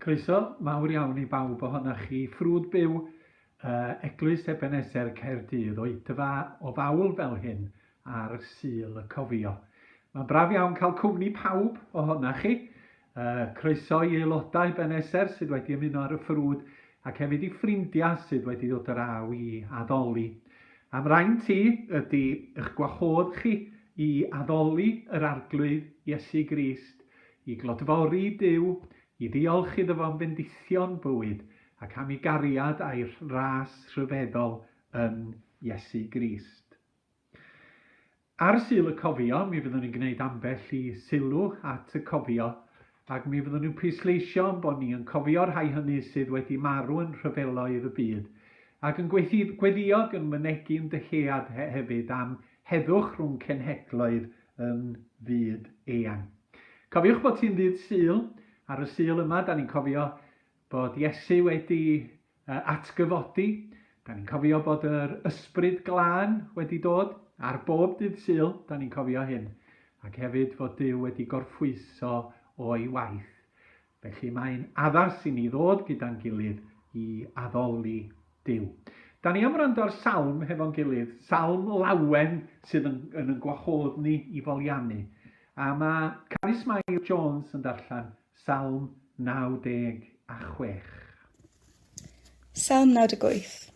Croeso mawr iawn i bawb ohonoch chi. Ffrwd byw, uh, Eglwys Ebeneser Caerdydd, oedfa o fawl fel hyn ar Sul y Cofio. Mae'n braf iawn cael cwmni pawb ohonoch chi. Uh, croeso i aelodau Beneser sydd wedi ymuno ar y ffrwd ac hefyd i ffrindiau sydd wedi dod yr aw i addoli. Am rhain ti ydy eich gwahodd chi i addoli yr Arglwydd Iesu Grist I glodfori Duw, i ddiolch iddo fo am fendithion bywyd ac am ei gariad a'i ras rhyfeddol yn Iesu Grist. Ar Sul y Cofio, mi fyddwn ni'n gwneud ambell i sylw at y cofio, ac mi fyddwn ni'n pwysleisio yn bod ni yn cofio rhai hynny sydd wedi marw yn rhyfeloedd y byd, ac yn gweddïo ac yn mynegi yn dyhead hefyd am heddwch rhwng cenhedloedd yn fyd eang. Cofiwch bod hi'n ddydd Sul, ar y Sul yma, da ni'n cofio bod Iesu wedi atgyfodi, da ni'n cofio bod yr ysbryd glân wedi dod, ar bob dydd Sul, da ni'n cofio hyn, ac hefyd fod Dyw wedi gorffwyso o'i waith. Felly mae'n addas i ni ddod gyda'n gilydd i addoli Duw. Da ni am wrando ar salm hefo'n gilydd, salm lawen sydd yn, yn, yn gwahodd ni i foliannu. A mae Carys Mair Jones yn darllen salm 96. Salm 98.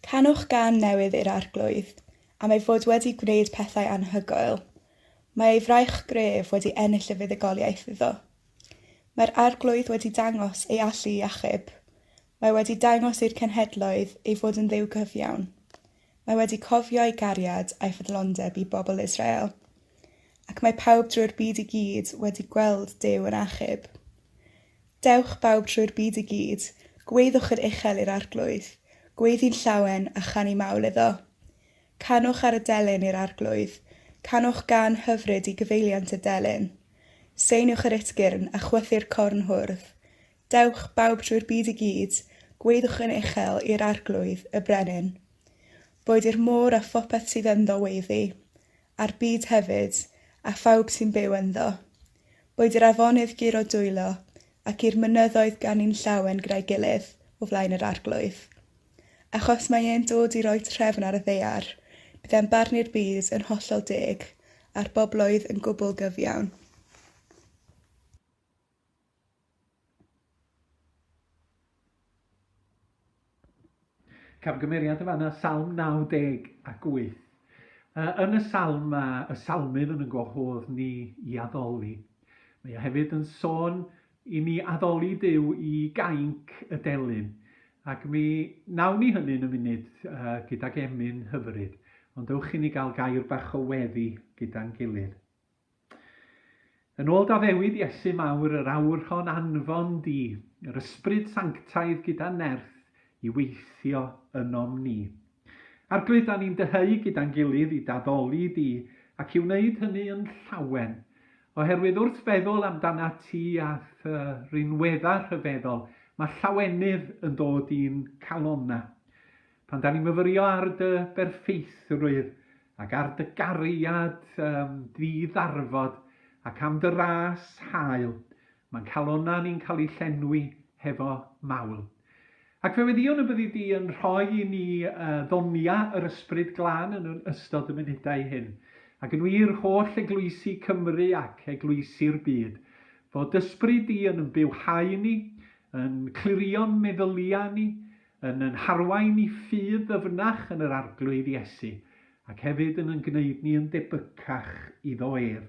Canwch gan newydd i'r arglwydd, am ei fod wedi gwneud pethau anhygoel, Mae ei fraich gref wedi ennill y fuddugoliaeth iddo. Mae'r Arglwydd wedi dangos ei allu i achub. Mae wedi dangos i'r cenhedloedd ei fod yn Dduw cyfiawn. Mae wedi cofio ei gariad a'i ffyddlondeb i bobl Israel. Ac mae pawb drwy'r byd i gyd wedi gweld Duw yn achub. Dewch bawb trwy'r byd i gyd, gweiddiwch yn uchel i'r Arglwydd, gweiddi'n llawen a chanu mawl iddo. Canwch ar y delyn i'r arglwydd, canwch gân hyfryd i gyfeiliant y delyn. Seiniwch yr utgyrn, a chwythu'r corn hwrdd. Dewch, bawb trwy'r byd i gyd, gwaeddwch yn uchel i'r arglwydd, y brenin. Boed i'r môr a phopeth sydd ynddo weiddi, a'r byd hefyd, a phawb sy'n byw ynddo. Boed i'r afonydd guro dwylo, ac i'r mynyddoedd ganu'n llawen gyda'i gilydd o flaen yr arglwydd. Achos mae e'n dod i roi trefn ar y ddaear, bydd e'n barnu'r byd yn hollol deg, a'r bobloedd yn gwbl gyfiawn. Camgymeriad yn fanna, Salm 90 ac 8. Yn y salm mae y salmydd yn yn gwahodd ni i addoli. Mae o hefyd yn sôn I ni addoli Duw i gainc y delyn, ac mi wnawn ni hynny yn y munud gydag emyn hyfryd, ond ewch i ni gael gair bach o weddi gyda'n gilydd. Yn ôl Daddewyd Iesu Mawr, yr awr hon anfon di, yr ysbryd sanctaidd gyda nerth i weithio ynom ni. Arglwydd, da ni'n dyheu gyda'n gilydd i daddoli di, ac i wneud hynny yn llawen, Oherwydd wrth feddwl amdanat ti a thy rinweddau rhyfeddol, mae llawenydd yn dod i'n calonna. Pan da ni'n myfyrio ar dy berffeithrwydd ac ar dy gariad um, ddi-ddarfod ac am dy ras hael, Mae'n calonnau ni'n cael eu llenwi hefo mawl. Ac fe weddion y byddi di yn rhoi i ni uh, ddonia yr ysbryd glân yn ystod y munudau hyn. Ac yn wir, holl eglwysi Cymru ac eglwysi'r byd, fod dysbryd di yn yn bywhau ni, yn clirio'n meddyliau ni, yn yn harwain i ffydd ddyfnach yn yr arglwydd Iesu, ac hefyd yn yn gwneud ni yn debycach iddo ef.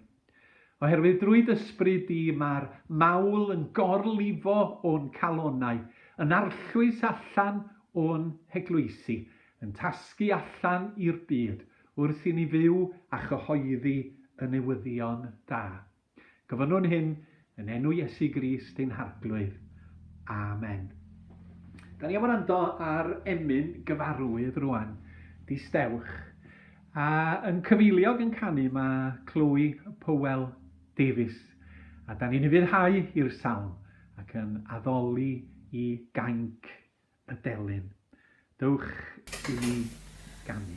Oherwydd drwy d'ysbryd di mae'r mawl yn gorlifo o'n calonnau, yn arllwys allan o'n heglwysi, yn tasgu allan i'r byd, wrth i ni fyw a chyhoeddi y newyddion da. Gofynnwn hyn Yn enw Iesu Grist ein Harglwydd. Amen. Da ni am wrando ar emyn gyfarwydd rwan, di stewch. A yn cyfeiliog yn canu mae Chloe Powell Davies. A da ni'n ufuddhau i'r salm ac yn addoli i gainc y delyn. Dewch i ni ganu.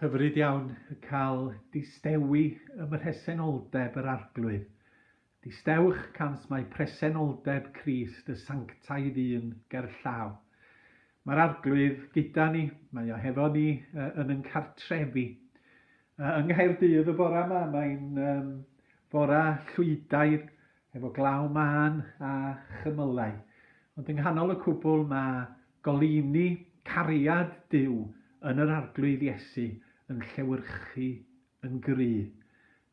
Hyfryd iawn cael distewi ym mhresenoldeb yr Arglwydd. Distewch cant mai presenoldeb Crist y sanctaidd un gerllaw. Mae'r Arglwydd gyda ni, mae o hefo ni yn yn cartrefi. Yng Nghaerdydd y bora yma, mae'n fora Llwydaidd, efo glaw mân a chymylau, ond yng nghanol y cwbl mae goleuni cariad Duw yn yr Arglwydd Iesu yn llewyrchu yn gry,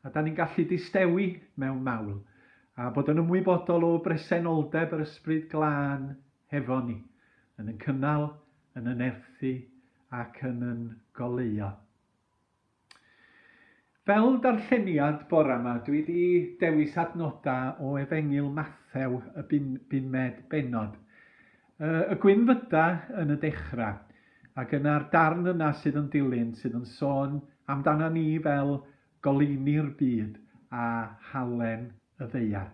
a da ni'n gallu distewi mewn mawl, a bod yn ymwybodol o bresenoldeb yr Ysbryd Glân hefo ni, yn yn cynnal, yn yn erthu, ac yn yn goleuo. Fel darlleniad bore 'ma dwi 'di dewis adnoda o Efengyl Mathew y bum, bumed bennod. Y, y gwyn fyda yn y dechra, ac yna'r darn yna sydd yn dilyn sydd yn sôn amdana ni fel goleuni'r byd a halen y ddaear.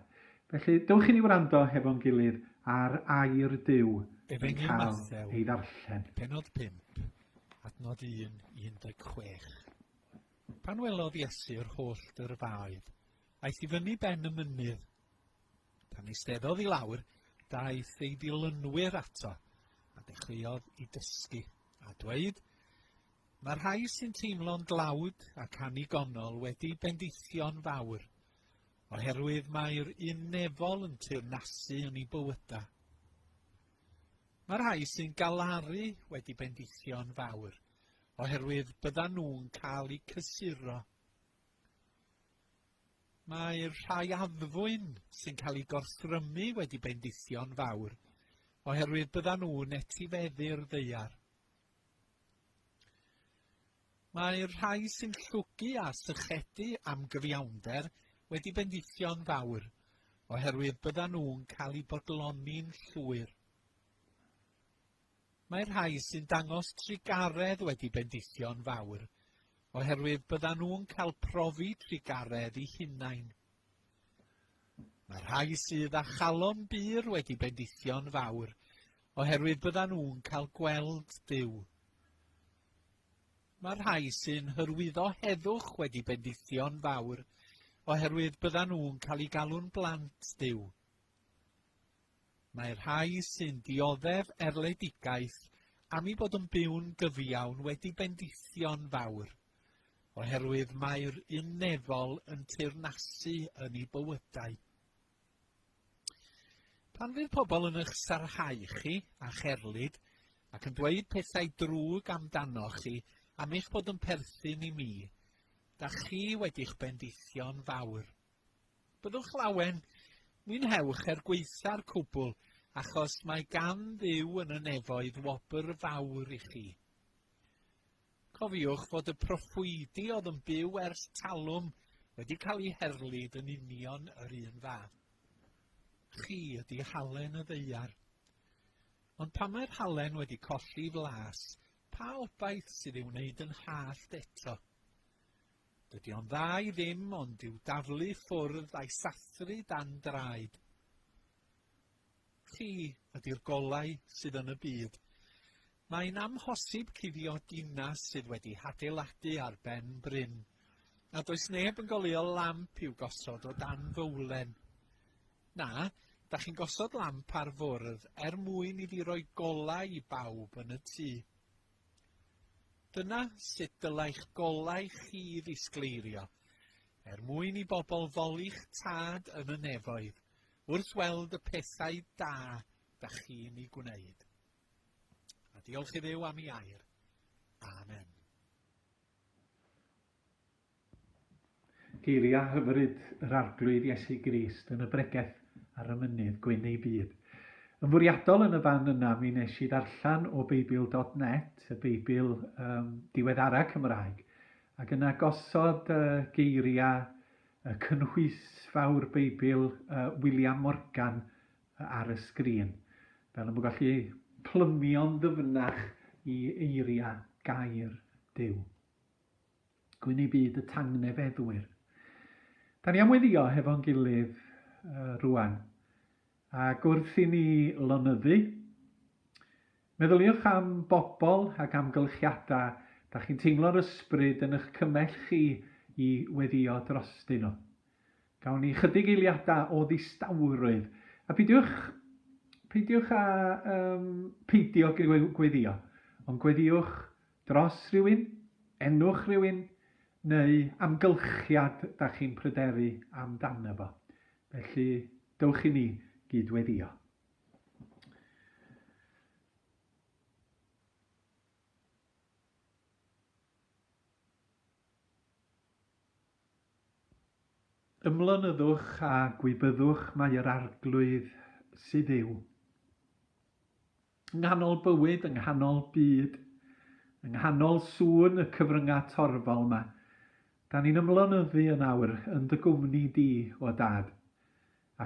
Felly dewch i ni wrando hefo'n gilydd ar air Duw yn cael ei ddarllen. Penod 5. Adnod 1 i 16. Pan welodd Iesu yr holl dyrfaoedd, aeth i fyny ben y mynydd. Pan eisteddodd i lawr, daeth ei ddilynwyr ato, a dechreuodd i dysgu, a dweud, Mae rhai sy'n teimlo'n dlawd ac annigonol wedi bendithio'n fawr, oherwydd mae'r un nefol yn teyrnasu yn ei bywydau. Mae rhai sy'n galaru wedi bendithio'n fawr, oherwydd byddan nhw'n cael eu cysuro. Mae rhai addfwyn sy'n cael eu gorthrymu wedi bendithio'n fawr, oherwydd byddan nhw'n etifeddu'r ddeiar. Mae'r rhai sy'n llwgu a sychedu am gyfiawnder wedi bendithio'n fawr, oherwydd byddan nhw'n cael eu bodloni'n llwyr. Mae'r rhai sy'n dangos trugaredd wedi bendithio'n fawr, oherwydd byddan nhw'n cael profi trugaredd i hunain. Mae'r rhai sydd â chalon bur wedi bendithio'n fawr, oherwydd byddan nhw'n cael gweld Duw. Mae rhai sy'n hyrwyddo heddwch wedi bendithio'n fawr oherwydd byddan nhw'n cael eu galw'n blant Duw. Mae rhai sy'n dioddef erledigaeth am ei bod yn byw'n gyfiawn wedi bendithio'n fawr oherwydd mae'r un nefol yn teyrnasu yn ei bywydau. Pan fydd pobl yn eich sarhau chi a cherlid ac yn dweud pethau drwg amdanoch chi am eich bod yn perthyn i mi, da chi wedi'ch bendithio'n fawr. Byddwch lawen, mwynhewch er gweitha'r cwbl, achos mae gan ddiw yn y nefoedd wobr fawr i chi. Cofiwch fod y proffwydi oedd yn byw ers talwm wedi cael eu herlid yn union yr un fath. Chi ydi halen y ddeiar. Ond pan mae'r halen wedi colli flas, pa obaith sydd ei wneud yn hallt eto? Dydy o'n dda i ddim ond i'w daflu ffwrdd a'i sathru dan draed. Chi ydy'r golau sydd yn y byd. Mae'n amhosib cuddio dinas sydd wedi hadeiladu ar ben bryn, a does neb yn goleuo lamp i'w gosod o dan fowlen. Na, da chi'n gosod lamp ar fwrdd er mwyn iddi roi golau i bawb yn y tŷ. Dyna sut dylai'ch golau chi ddisgleirio, er mwyn i bobl ddoli'ch tad yn y nefoedd wrth weld y pethau da da chi'n ei gwneud. A diolch i ddew am i air. Amen. Geiriau hyfryd yr Arglwydd Iesu Grist yn y bregeth ar y mynydd gwyn ei byd. Yn fwriadol yn y fan yna mi nes i ddarllen o Beibl.net, y Beibl um, diweddara Cymraeg, ac yna gosod uh, geiriau y cynhwysfawr Beibl uh, William Morgan ar y sgrin, fel y bod gallu plymio'n ddyfnach i eiriau gair Duw. Gwyn ei byd y tangnefeddwyr. Da ni am weddio hefo'n gilydd uh, rwan. Ac wrth i ni lonyddu, meddyliwch am bobl ac amgylchiadau da chi'n teimlo'r ysbryd yn eich cymell chi i weddio drostyn nhw. Gawn ni chydig eiliadau o ddistawrwydd. A peidiwch, peidiwch â um, peidio gweddio, ond gweddiwch dros rhywun, enwch rhywun, neu amgylchiad da chi'n pryderu amdano fo. Felly, dewch i ni gydweddio. Ymlonyddwch a gwybyddwch mai yr Arglwydd sydd yw. Ynghanol bywyd, ynghanol byd, ynghanol sŵn y cyfrynga torfol 'ma, 'dan ni'n ymlonyddu yn awr yn dy gwmni di, o Dad,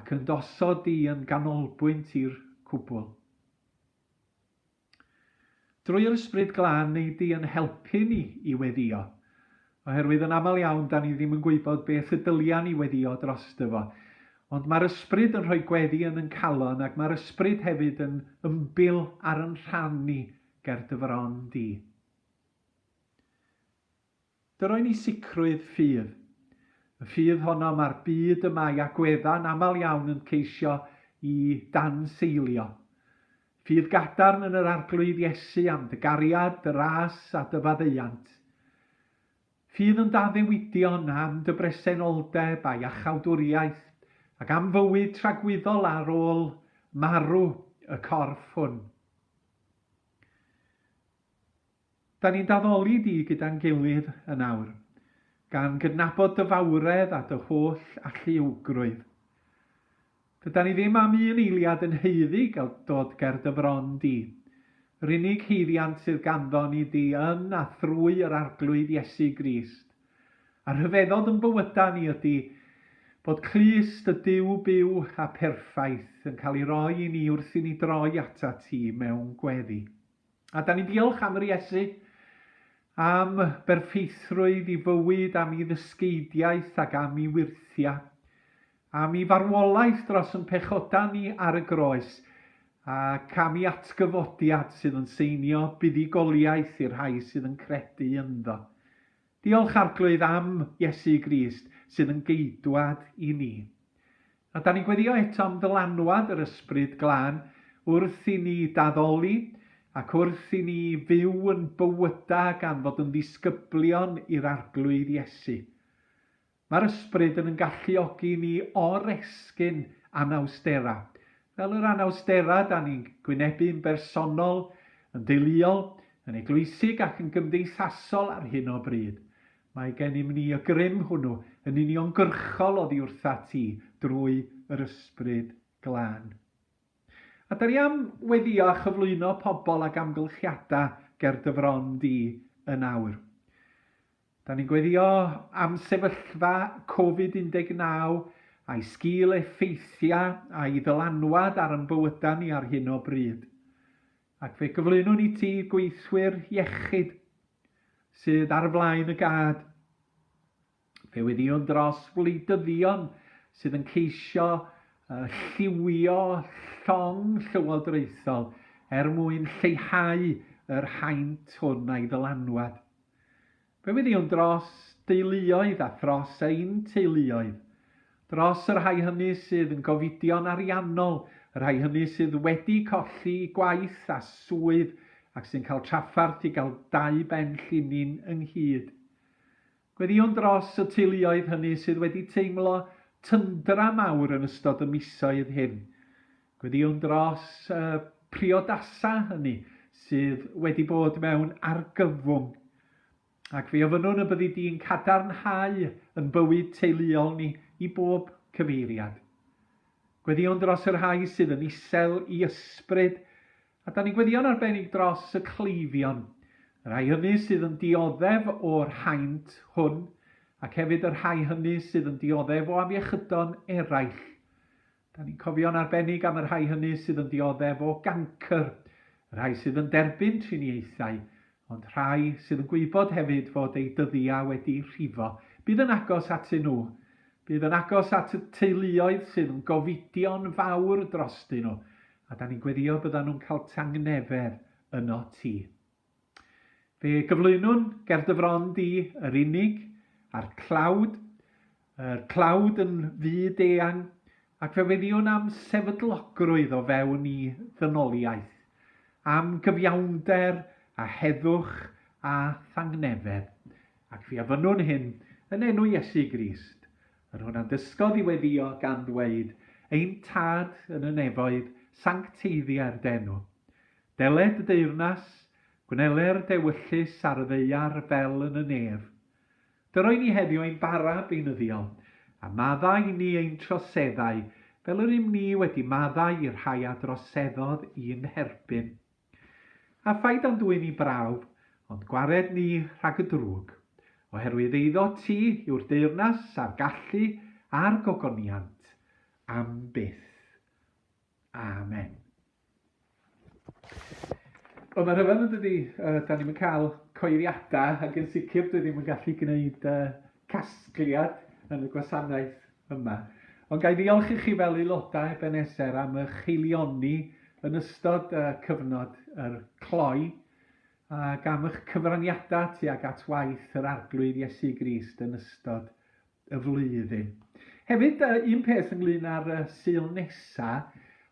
ac yn dy osod di yn ganolbwynt i'r cwbwl. Drwy yr Ysbryd Glân ei di yn helpu ni i weddïo. Oherwydd yn aml iawn dan ni ddim yn gwybod beth y dylia ni weddïo drosto fo. Ond mae'r Ysbryd yn rhoi gweddi yn yn calon ac mae'r Ysbryd hefyd yn ymbil ar yn rhan ni ger dy fron di. Dy roi ni sicrwydd ffydd. Y ffydd honno mae'r byd y mae agweddau'n aml iawn yn ceisio i danseilio. Ffydd gadarn yn yr Arglwydd Iesu am dy gariad, dy ras a dy faddeuant. Ffydd yn daddewidion am dy bresenoldeb a iachawdwriaeth ac am fywyd tragwyddol ar ôl marw y corff hwn. Da ni'n d'addoli di gyda'n gilydd yn awr, gan gydnabod dy fawredd a dy holl alluogrwydd. Dydan ni ddim am un eiliad yn haeddu gael dod ger dy fron di. Yr unig haeddiant sydd ganddo ni di yn a thrwy yr Arglwydd Iesu Grist. A rhyfeddodd yn bywyda ni ydi bod clust y Duw byw a perffaith yn cael ei roi i ni wrth i ni droi atat ti mewn gweddi. A da ni'n diolch am yr Iesu, am berffeithrwydd i fywyd, am i ddysgeidiaeth ac am i wyrthia, am i farwolaeth dros yn pechoda ni ar y groes, ac am i atgyfodiad sydd yn seinio buddugoliaeth i'r rhai sydd yn credu ynddo. Diolch Arglwydd am Iesu Grist sydd yn geidwad i ni. A da ni'n gweddio eto am ddylanwad yr Ysbryd Glân wrth i ni daddoli ac wrth i ni fyw yn bywyda gan fod yn ddisgyblion i'r Arglwydd Iesu. Mae'r ysbryd yn yn galluogi i ni oresgyn anawsterau, fel yr anawsterau da ni'n gwynebu'n bersonol, yn deuluol, yn eglwysig ac yn gymdeithasol ar hyn o bryd. Mae gennym ni y grym hwnnw yn uniongyrchol oddi wrthat ti drwy yr Ysbryd Glân. A da ni am weddio a chyflwyno pobl ag amgylchiadau ger dy fron di yn awr. Da ni'n gweddïo am sefyllfa Covid 19 a'i sgil effeithiau a'i ddylanwad ar ein bywydau ni ar hyn o bryd, ac fe gyflwynwn i ti gweithwyr iechyd sydd ar flaen y gad. Fe weddïwn dros wleidyddion sydd yn ceisio lliwio llong llywodraethol er mwyn lleihau yr haint hwn a'i ddylanwad. Fe wyddiwn dros deuluoedd a thros ein teuluoedd. Dros y rhai hynny sydd yn gofidion ariannol, y rhai hynny sydd wedi colli gwaith a swydd ac sy'n cael trafferth i gael dau ben llinyn ynghyd. Gweddïwn dros y teuluoedd hynny sydd wedi teimlo tyndra mawr yn ystod y misoedd hyn. Gweddïwn dros y priodasau hynny sydd wedi bod mewn argyfwng, ac fe ofynnwn y byddi di'n cadarnhau yn bywyd teuluol ni i bob cyfeiriad. Gweddïwn dros y rhai sydd yn isel i ysbryd, a da ni'n gweddïo'n arbennig dros y cleifion, y rhai hynny sydd yn dioddef o'r haint hwn, ac hefyd y rhai hynny sydd yn dioddef o afiechydon eraill. Dan ni'n cofio'n arbennig am y rhai hynny sydd yn dioddef o gancr, y rhai sydd yn derbyn triniaethau, ond rhai sydd yn gwybod hefyd fod eu dyddiau wedi rhifo. Bydd yn agos atyn nhw. Bydd yn agos at y teuluoedd sydd yn gofidio'n fawr drostyn nhw, a dan ni'n gweddïo byddan nhw'n cael tangnefedd yno ti. Fe gyflwynwn ger dy fron di, yr unig, a'r clawd, yr clawd yn fyd eang, ac fe weddiwn am sefydlogrwydd o fewn i ddynoliaeth, am gyfiawnder a heddwch a thangnefedd, ac fe ofynnwn hyn yn enw Iesu Grist, yr hwn a ddysgodd i weddio gan ddweud, Ein Tad yn y nefoedd, sancteiddia'r d'enw. Deled y deyrnas, gwnele'r dewyllys ar y ddaear fel yn y nef. Dy roi ni heddiw ein bara beunyddiol, a madda i ni ein troseddau, fel yr ym ni wedi maddau i'r rhai a droseddodd i'n herbyn. A phai dan dwyn ni brawf, ond gwared ni rhag y drwg, oherwydd eiddo ti yw'r deyrnas a'r gallu a'r gogoniant am byth. Amen. Wel mae'n rhyfedd yn dydi, yy 'dan ni'm yn ca'l coeliada ac yn sicr dwi ddim yn gallu gneud yy casgliad yn y gwasanaeth yma. Ond ga'i ddiolch i chi fel aelodau Ebeneser am ych haelioni yn ystod yy cyfnod yr cloi ac am ych cyfraniada tuag at waith yr Arglwydd Iesu Grist yn ystod y flwyddyn. Hefyd, uh, un peth ynglyn â'r uh, syl nesa,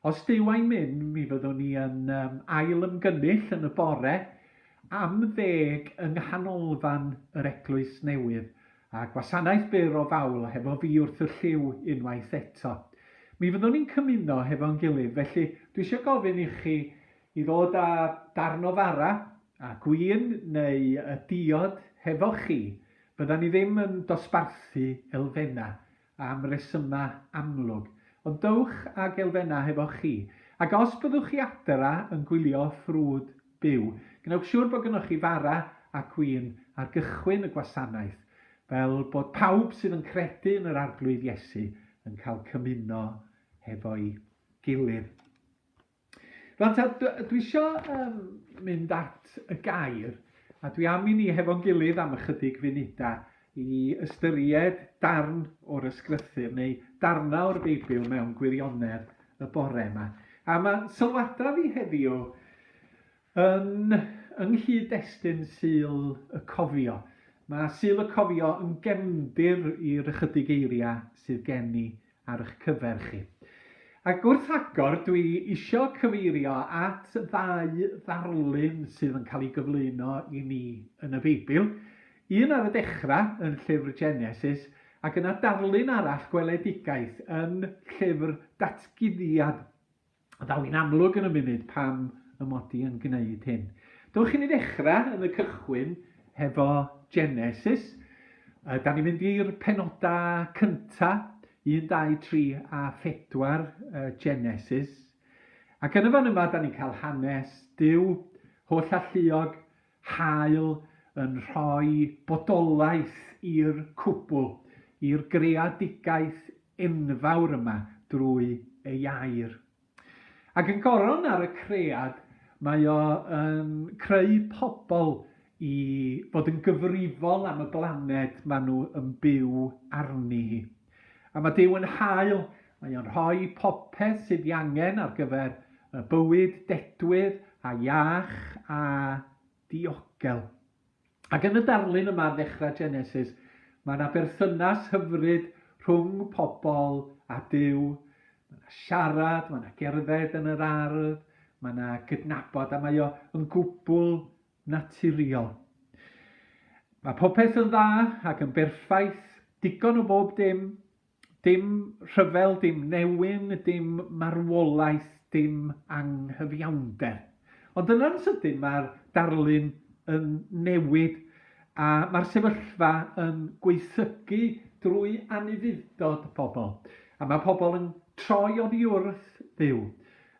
os dyw a'i mynd, mi fyddwn ni yn um, ail ymgynnull yn y bore am ddeg yng nghanolfan yr Eglwys Newydd, a gwasanaeth byr o fawl hefo fi wrth y lliw unwaith eto. Mi fyddwn ni'n cymuno hefo'n gilydd, felly dwi eisiau gofyn i chi i ddod â darn o fara A gwin neu y diod hefo chi, fyddan ni ddim yn dosbarthu elfennau am resymau amlwg, ond dowch ag elfennau hefo chi. Ac os byddwch chi adra yn gwylio ffrwd byw, gwnewch siwr bod gynnoch chi fara a gwin ar gychwyn y gwasanaeth, fel bod pawb sydd yn credu yn yr Arglwydd Iesu yn cael cymuno hefo'i gilydd. Rwan ta, dwi isio um, mynd at y gair, a dwi am i ni hefo'n gilydd am ychydig funudau i ystyried darn o'r ysgrythyr neu darnau o'r Beibl mewn gwirionedd y bore yma. A mae sylwadau fi heddiw yn yng nghyd-destun syl y cofio. Mae syl y cofio yn gefndir i'r ychydig eiriau sydd gen i ar eich cyfer chi. Ac wrth agor, dwi isio cyfeirio at ddau ddarlun sydd yn cael ei gyflwyno i ni yn y Beibl. Un ar y dechrau yn llyfr Genesis, ac yna darlun arall gweledigaeth yn llyfr Datguddiad. Daw hi'n amlwg yn y munud pam y mod i yn gwneud hyn. Dewch i ni ddechrau yn y cychwyn hefo Genesis. Uh, da ni'n mynd i'r penodau cynta, 1, 2, 3 a 4 uh, Genesis. Ac yn y fan yma, da ni'n cael hanes Dyw, holl alluog, Hael yn rhoi bodolaeth i'r cwbl, i'r greadigaeth enfawr yma drwy ei air. Ac yn goron ar y cread, mae o yn creu pobl i fod yn gyfrifol am y blaned maen nhw yn byw arni hi. A mae Duw yn hael, mae o'n rhoi popeth sydd ei angen ar gyfer y bywyd dedwydd a iach a diogel. Ac yn y darlun yma ar ddechrau Genesis, mae yna berthynas hyfryd rhwng pobl a Duw. Mae yna siarad, mae yna gerdded yn yr ardd, mae yna gydnabod a mae o yn gwbl naturiol. Mae popeth yn dda ac yn berffaith, digon o bob dim, dim rhyfel, dim newyn, dim marwolaeth, dim anghyfiawnder. Ond yna'n sydyn mae'r darlun yn newid a mae'r sefyllfa yn gweithygu drwy anufudd-dod pobl, a mae pobl yn troi oddi wrth Dduw.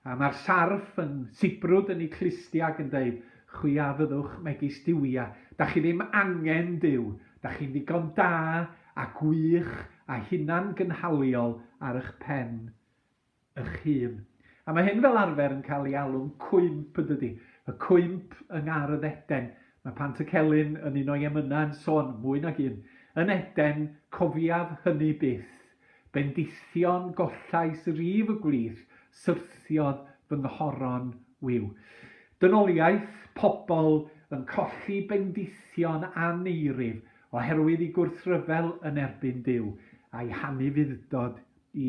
A mae'r sarff yn sibrwd yn ei clustiau ac yn deud, Chwi a fyddwch megis duwiau. Da chi ddim angen Duw. Da chi'n ddigon da a gwych a hunangynhaliol ar ych pen ych hun. A mae hyn fel arfer yn cael ei alw'n cwymp, yn dydi? Y cwymp yng ngar y ddeden. Mae Pantycelyn yn un o'i emynau yn sôn, mwy nag un, Yn Eden, cofiaf hynny byth. Bendithion gollais rif y gwlith, syrthiodd fy nghoron wiw. Dynoliaeth, pobl yn colli bendithion aneirif oherwydd i gwrthryfel yn erbyn Duw, a'i hanufudd-dod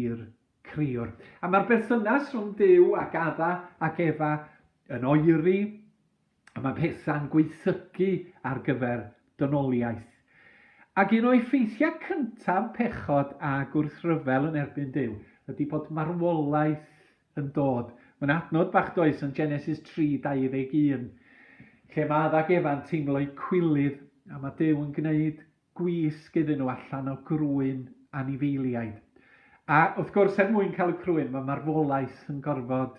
i'r criwr. A mae'r berthynas rhwng Duw ac Adda ac Efa yn oeri a mae pethau'n gwaethygu ar gyfer dynoliaeth. Ac un o effeithiau cyntaf pechod a gwrthryfel yn erbyn Duw ydy bod marwolaeth yn dod. Mae'n adnod bach does yn Genesis 3:21, lle mae Adda ac Efa'n teimlo'u cwilydd a mae Duw yn gwneud gwisg iddyn nhw allan o grwyn anifeiliaid. A wrth gwrs, er mwyn cael y crwyn, mae marwolaeth yn gorfod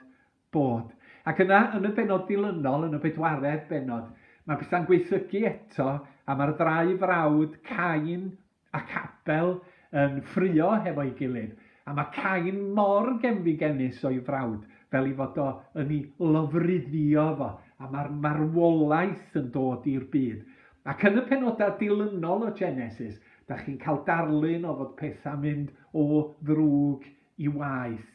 Bod. Ac yna, yn y bennod dilynol, yn y bedwaredd bennod, mae pethau'n gwaethygu eto, a mae'r ddau frawd, Cain ac Abel, yn ffruo hefo'i gilydd. A mae Cain mor genfigennus o'i frawd, fel ei fod o yn ei lofruddio fo, a mae'r marwolaeth yn dod i'r byd. Ac yn y pennodau dilynol o Genesis, da chi'n cael darlun o fod pethau'n mynd o ddrwg i waeth,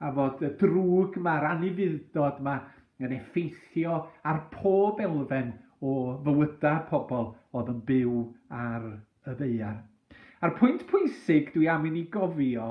a fod y drwg 'ma, yr anufudd-dod 'ma yn effeithio ar pob elfen o fywyda pobl oedd yn byw ar y ddaear. A'r pwynt pwysig dwi am i ni gofio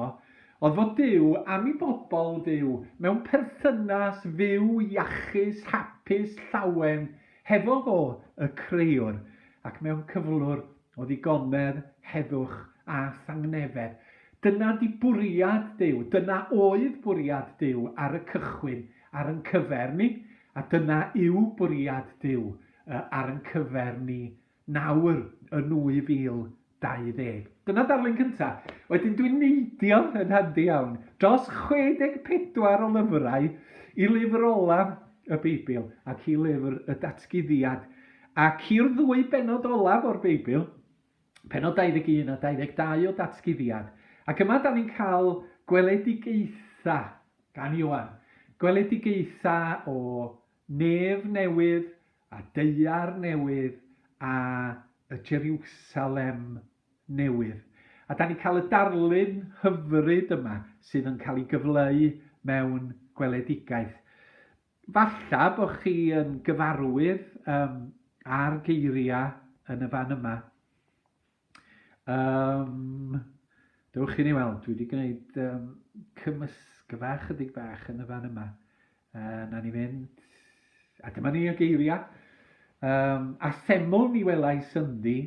oedd fod Duw am i bobl fyw mewn perthynas fyw, iachus, hapus, llawen, hefo fo, y Creuwr, ac mewn cyflwr O ddigonedd, heddwch a thangnefedd. Dyna di bwriad Duw, dyna oedd bwriad Duw ar y cychwyn ar yn cyfer ni, a dyna yw bwriad Duw ar yn cyfer ni nawr yn 2020. Dyna darlun cynta. Wedyn dwi'n neidio yn handi iawn dros 64 o lyfrau i lyfr ola y Beibl ac i lyfr y Datguddiad Ac i'r ddwy bennod olaf o'r Beibl, pennod 21 a 22 o Datguddiad. Ac yma da ni'n cael gweledigaetha gan Ioan. Gweledigaetha o nef newydd a deuar newydd a y Jeriwsalem newydd. A da ni'n cael y darlun hyfryd yma sydd yn cael ei gyfleu mewn gweledigaeth. Falla bo chi yn gyfarwydd um, â'r geiriau yn y fan yma. Um, dewch i ni weld, dwi wedi gwneud um, cymysgfa chydig bach yn y fan yma. Uh, na ni fynd, a dyma ni y geiriau. Um, a seml mi welais ynddi,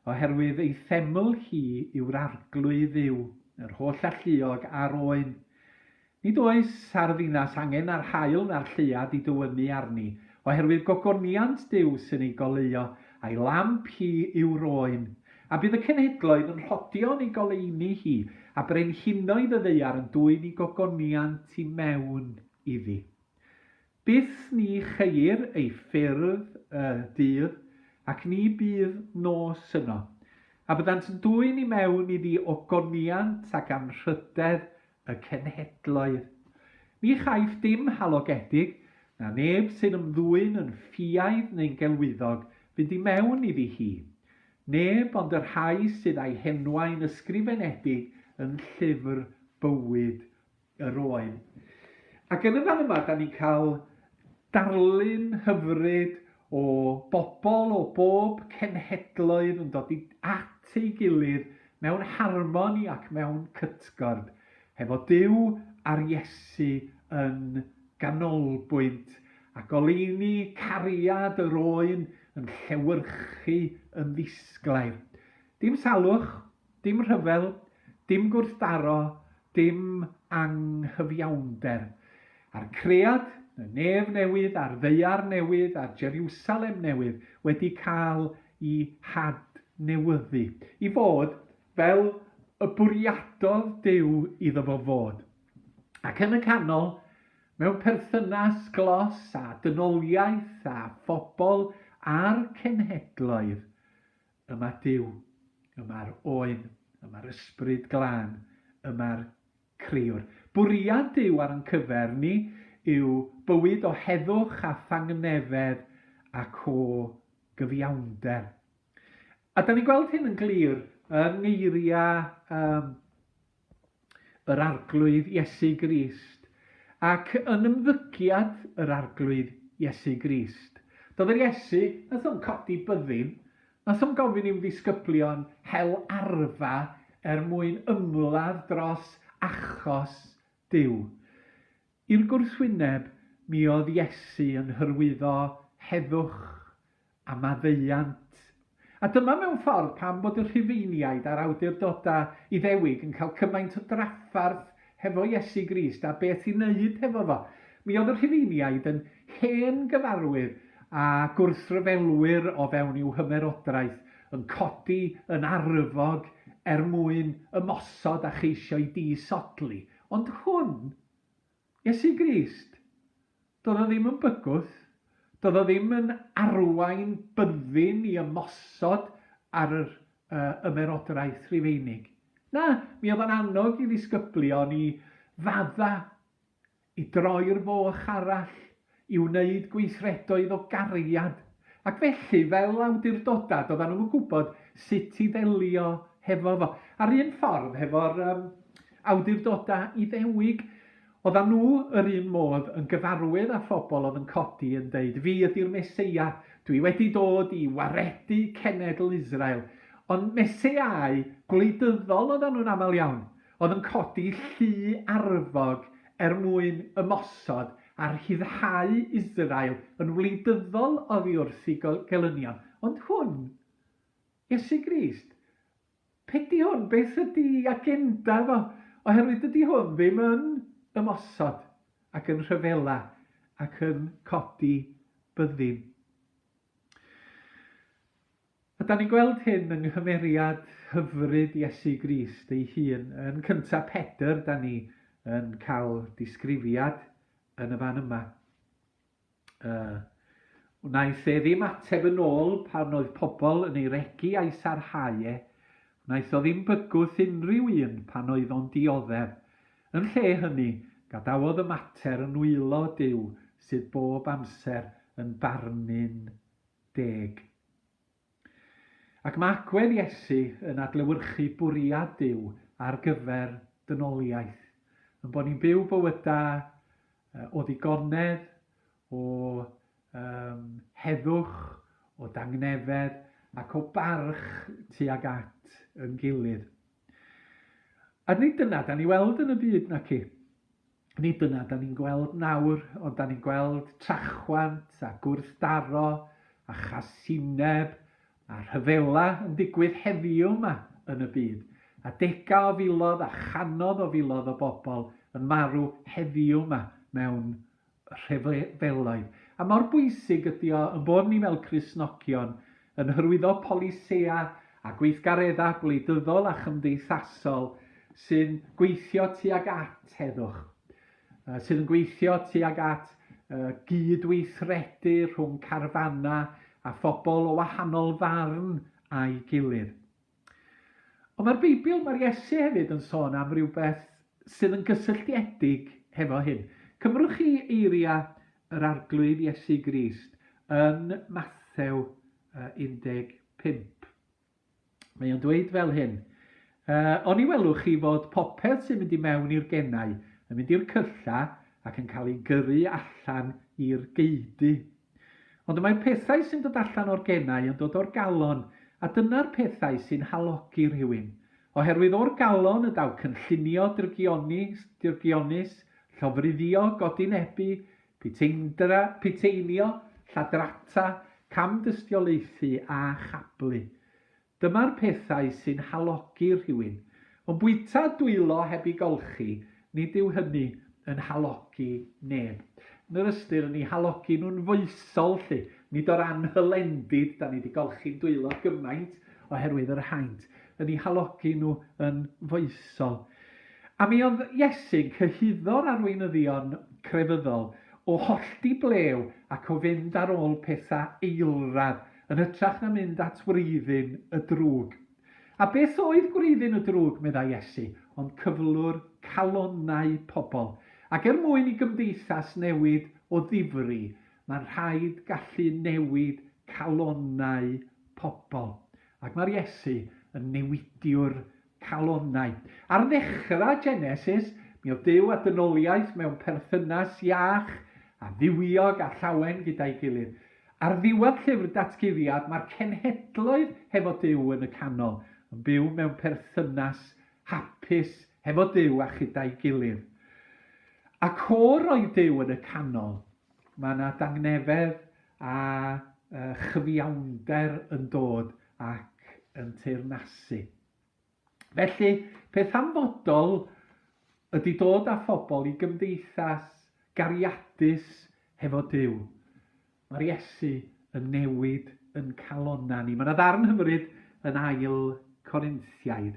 oherwydd ei seml hi yw'r arglwydd yw, yr holl alluog a'r oen. Nid oes ar y ddinas angen na'r haul na'r lleuad i dywynnu arni, oherwydd gogoniant Duw sy'n ei goleuo, a'i lamp hi yw rôyn. A bydd y cenhedloedd yn rhodio yn ei goleuni hi, a brenhinoedd y ddaear yn dwyn i gogoniant i mewn iddi. Byth ni cheir ei ffyrdd y dydd, ac ni bydd nos yno. A byddant yn dwyn i mewn iddi ogoniant ac anrhydedd y cenhedloedd. Ni chaiff dim halogedig, na neb sy'n ymddwyn yn ffiaidd neu'n gelwyddog, fynd i mewn iddi hi. Neb ond y rhai sydd â'i henwau'n ysgrifenedig yn llyfr bywyd yr oen. Ac yn y fan yma, da ni'n cael darlun hyfryd o bobl o bob cenhedloedd yn dod at ei gilydd mewn harmoni ac mewn cytgord hefo Duw a'r Iesu yn ganolbwynt, a goleuni cariad yr oen yn llewyrchu yn ddisglair. Dim salwch, dim rhyfel, dim gwrthdaro, dim anghyfiawnder, a'r cread, y nef newydd a'r ddaear newydd a'r Jeriwsalem newydd wedi cael i hadnewyddu i fod fel y bwriadodd Duw iddo fo fod. Ac yn y canol, mewn perthynas glos â dynoliaeth a phobl a'r cenhedloedd, Yma Duw, yma'r Oen, yma'r Ysbryd Glân, yma'r Crëwr. Bwriad Duw ar ein cyfer ni yw bywyd o heddwch a thangnefedd ac o gyfiawnder. A da ni'n gweld hyn yn glir yng ngeiriau um, yr Arglwydd Iesu Grist, ac yn ymddygiad yr Arglwydd Iesu Grist. Doedd yr Iesu, wnaeth o'm codi byddin, wnaeth o'm gofyn i'm ddisgyblion hel arfa er mwyn ymladd dros achos Duw. I'r gwrthwyneb, mi oedd Iesu yn hyrwyddo heddwch a maddeuant. A dyma mewn ffordd pam bod y Rhufeiniaid a'r awdurdodau Iddewig yn cael cymaint o drafferth hefo Iesu Grist a beth i wneud hefo fo. Mi oedd y Rhufeiniaid yn hen gyfarwydd â gwrthryfelwyr o fewn i'w hymerodraeth, yn codi yn arfog er mwyn ymosod a cheisio'i disodli. Ond hwn, Iesu Grist. Doedd o ddim yn bygwth, doedd o ddim yn arwain byddin i ymosod ar yr Ymerodraeth Rufeinig. Na, mi oedd o'n annog i ddisgyblion i fadda, i droi'r foch arall i wneud gweithredoedd o gariad, ac felly, fel awdurdodau, doeddan nhw'm yn gwybod sut i ddelio hefo fo. A'r un ffordd hefo'r um, awdurdodau Iddewig, oeddan nhw yr un modd yn gyfarwydd â phobl oedd yn codi yn deud, fi ydy'r Meseia, dwi wedi dod i waredu cenedl Israel. Ond Meseiau gwleidyddol oeddan nhw'n aml iawn. oedd yn codi llu arfog er mwyn ymosod a rhyddhau Israel yn wleidyddol oddi wrth ei gelynion. Ond hwn, Iesu Grist, be di hwn? Beth ydi agenda fo? Oherwydd dydy hwn ddim yn ymosod ac yn rhyfela ac yn codi byddin. A dan ni'n gweld hyn yng nghymeriad hyfryd Iesu Grist ei hun. Yn cyntaf Pedr, dan ni yn cael disgrifiad yn y fan yma. Uh, wnaeth e ddim ateb yn ôl pan oedd pobl yn ei regu a'i sarhau e. Wnaeth o ddim bygwth unrhyw un pan oedd o'n dioddef. Yn lle hynny, gadawodd y mater yn wylo Duw sydd bob amser yn barnu'n deg. Ac mae agwedd Iesu yn adlewyrchu bwriad Duw ar gyfer dynoliaeth, yn bod ni'n byw bywydau o ddigonedd, o um, heddwch, o dangnefedd ac o barch tuag at yn gilydd. A nid dyna dan ni weld yn y byd, naci? Nid dyna dan ni'n gweld nawr, ond dan ni'n gweld trachwant a gwrthdaro a chasineb a rhyfela yn digwydd heddiw yma yn y byd, a degau o filodd a chanodd o filodd o bobl yn marw heddiw yma mewn rhyfeloedd, a mor bwysig ydy o ein bod ni fel Cristnogion yn hyrwyddo polisïau a gweithgareddau gwleidyddol a chymdeithasol sy'n gweithio tuag at heddwch, sydd yn gweithio tuag at gyd-weithredu rhwng carfanau a phobl o wahanol farn â'i gilydd. Ond mae'r Beibl, mae'r Iesu hefyd yn sôn am rywbeth sydd yn gysylltiedig hefo hyn. Cymrwch chi eiriau yr Arglwydd Iesu Grist yn Mathew 15. Mae o'n dweud fel hyn, O'n i welwch chi fod popeth sy'n mynd i mewn i'r genau yn mynd i'r cylla ac yn cael ei gyrru allan i'r geudy. Ond y mae'r pethau sy'n dod allan o'r genau yn dod o'r galon, a dyna'r pethau sy'n halogi rhywun. Oherwydd o'r galon y daw cynllunio drygioni, dyrgionus, llofruddio, godinebu, puteindra, puteinio, lladrata, camdystiolaethu a chablu. Dyma'r pethau sy'n halogi rhywun, ond bwyta a dwylo heb i golchi, nid yw hynny yn halogi neb. Yn yr ystyr yn i halogi nhw'n foesol 'lly, nid o'r anhylendid, 'da ni 'di golchi'n dwylo gymaint oherwydd yr haint, yn i halogi nhw yn foesol. A mi oedd Iesu'n cyhuddo'r arweinyddion crefyddol o hollti blew ac o fynd ar ôl pethau eilradd, yn hytrach na mynd at wreiddyn y drwg. A beth oedd gwreiddyn y drwg, meddai Iesu, ond cyflwr calonnau pobl. Ac er mwyn i gymdeithas newid o ddifri, mae'n rhaid gallu newid calonnau pobl. Ac mae'r Iesu yn newidiwr calonnau. Ar ddechrau Genesis, mi oedd Duw a dynoliaeth mewn perthynas iach a dduwiog a llawen gyda'i gilydd. Ar ddiwedd llyfr Datguddiad, mae'r cenhedloedd hefo Duw yn y canol, yn byw mewn perthynas hapus hefo Duw a chyda'i gilydd. Ac o roedd Duw yn y canol, Mae yna dangnefedd a chyfiawnder yn dod ac yn teyrnasu. Felly, peth hanfodol ydy dod â phobl i gymdeithas gariadus hefo Duw. Mae'r Iesu yn newid yn calonna ni. Mae yna ddarn hyfryd yn ail Corinthiaid.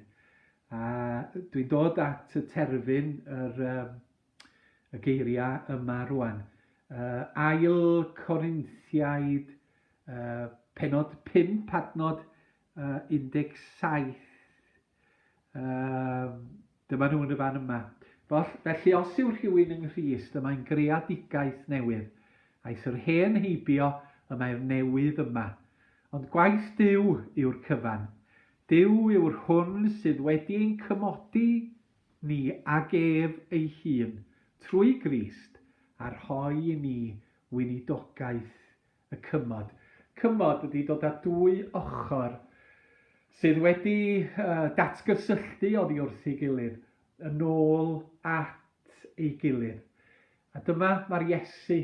A dwi'n dod at y terfyn yr, y geiriau yma rwan. Uh, ail Corinthiaid, uh, penod 5, adnod uh, 17. Uh, dyma nhw'n y fan yma. Felly, os yw rhywun yng Nghyst, y mae'n greadigaeth newydd. Aeth yr hen heibio, y mae'r newydd yma. Ond gwaith Dyw yw'r cyfan. Dyw yw'r hwn sydd wedi ein cymodi ni ag ef ei hun, trwy Grist, a rhoi i ni weinidogaeth y cymod. Cymod ydy dod â dwy ochr sydd wedi datgysylltu oddi wrth ei gilydd, yn ôl at ei gilydd. A dyma mae'r Iesu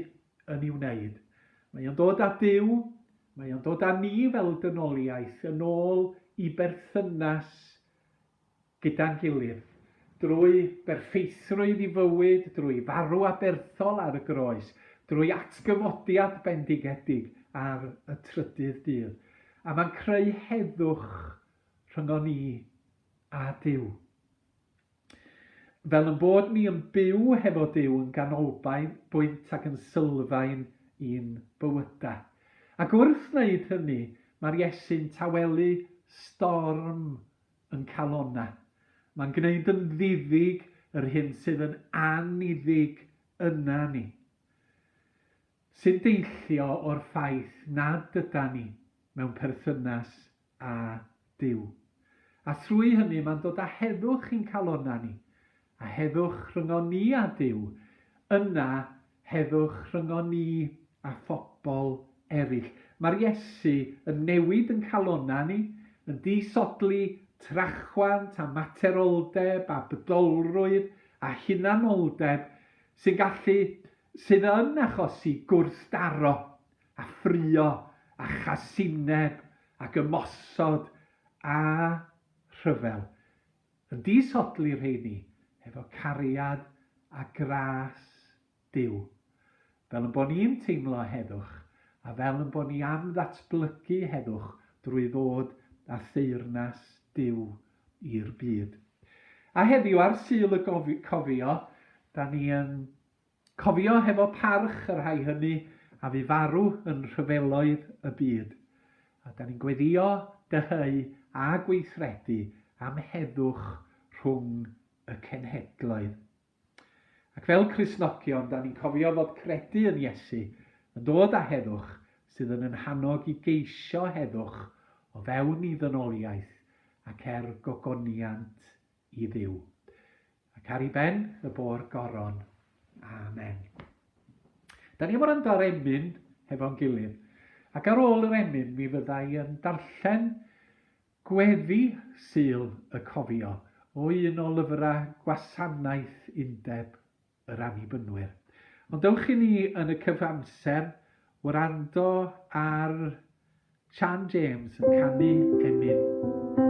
yn ei wneud. Mae o'n dod â Duw, mae o'n dod â ni fel dynoliaeth yn ôl i berthynas gyda'n gilydd, drwy berffeithrwydd i fywyd, drwy farw aberthol ar y groes, drwy atgyfodiad bendigedig ar y trydydd dydd, a mae'n creu heddwch rhyngon ni a Duw. Fel yn bod ni yn byw hefo Duw yn ganolbwynt ac yn sylfaen i'n bywyda. Ac wrth wneud hynny, mae'r Iesu'n tawelu storm yn calonna. Mae'n gwneud yn ddiddig yr hyn sydd yn anniddig yna ni, sy'n deillio o'r ffaith nad yda ni mewn perthynas â Duw. A thrwy hynny mae'n dod â heddwch i'n calonna ni, A heddwch rhyngon ni â Duw, yna heddwch rhyngon ni â phobl eraill. Mae'r Iesu yn newid yn calonnau ni, yn disodli trachwant a materoldeb a bydolrwydd a hunanoldeb sy'n gallu, sydd yn achosi gwrthdaro a ffrio a chasineb ac ymosod a rhyfel. Yn disodli rheini efo cariad a gras Duw. Fel 'yn bo' ni'n teimlo heddwch, a fel 'yn bo' ni am ddatblygu heddwch drwy ddod â theyrnas Duw i'r byd. A heddiw ar Sul y Cofio, 'da ni yn Cofio hefo parch y rhai hynny a fu farw yn rhyfeloedd y byd, a da ni'n gweddio, dyheu a gweithredu am heddwch rhwng y cenhedloedd. Ac fel Cristnogion, da ni'n cofio fod credu yn Iesu yn dod â heddwch sydd yn yn hannog i geisio heddwch o fewn i ddynoliaeth ac er gogoniant i Dduw, ac ar i ben y bôr goron. Amen. Da ni am wrando ar emyn hefo'n gilydd. Ac ar ôl yr emyn, mi fydda i yn darllen gweddi syl y cofio o un o lyfrau gwasanaeth undeb yr Annibynwyr. Ond dewch i ni yn y cyfamser wrando ar Sian James yn canu Emyn.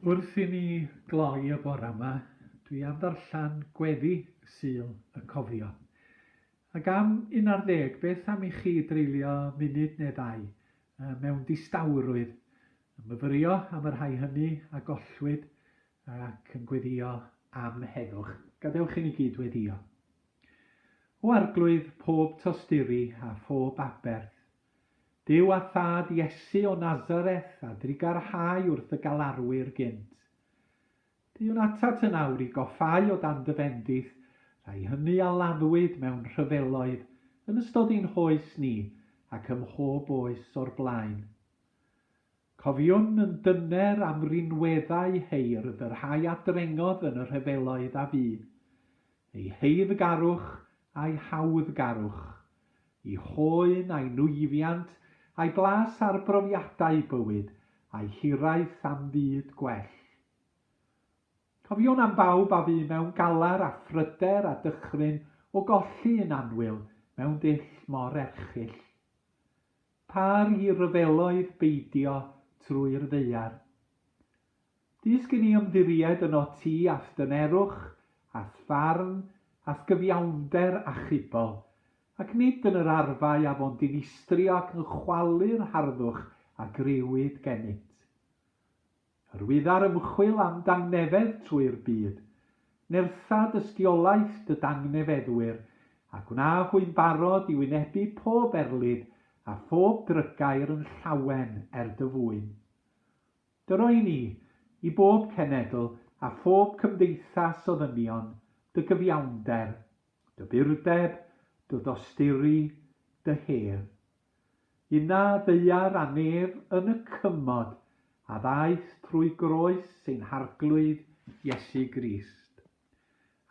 Wrth i ni gloi y bore 'ma, dwi am ddarllen gweddi Sul y Cofio. Ac am un ar ddeg, beth am i chi dreulio munud neu ddau mewn distawrwydd, yn myfyrio am y rhai hynny a gollwyd ac yn gweddio am heddwch. Gadewch i ni gyd weddio. O Arglwydd pob tosturi a phob aberth, Duw a Thad Iesu o Nazareth a drugarhau wrth y galarwyr gynt. Deuwn atat yn awr i goffáu o dan dy fendith rhai hyny a laddwyd mewn rhyfeloedd yn ystod ein hoes ni ac ym mhob oes o'r blaen. Cofiwn yn dyner am rinweddau heirdd y rhai a drengodd yn y rhyfeloedd a fu, eu heiddgarwch a'u hawddgarwch, eu hoen a'u nwyfiant, a'u blas ar brofiadau bywyd, a'u hiraeth am fyd gwell. Cofiwn am bawb a fu mewn galar a phryder a dychryn o golli un annwyl mewn dull mor erchyll. Par i ryfeloedd beidio trwy'r ddaear. Dysg i ni ymddiried yno ti a'th dynerwch, a'th farn, a'th gyfiawnder achubol, ac nid yn yr arfau a fo'n dinistrio ac yn chwalu'r harddwch a griwyd genyt. Rwyf ar ymchwil am dangnefedd trwy'r byd. Nertha dystiolaeth dy dangnefeddwyr, a gwna hwy'n barod i wynebu pob erlid a phob drygair yn llawen er dy fwyn. Dy roi ni, i bob cenedl a phob cymdeithas o ddynion, dy gyfiawnder, dy burdeb, dy ddosturi, dy her. Y na ddaear a nef yn y cymod a ddaeth trwy groes ein Harglwydd Iesu Grist.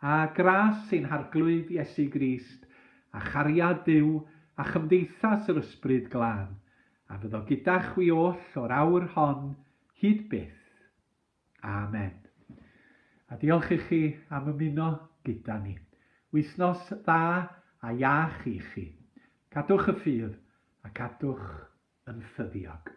A gras ein Harglwydd Iesu Grist, a chariad Duw, a chymdeithas yr Ysbryd Glân, a fyddo gyda chwi oll o'r awr hon hyd byth. Amen. A diolch i chi am ymuno gyda ni. Wythnos dda a iach i chi. Cadwch y ffydd a cadwch yn ffyddiog.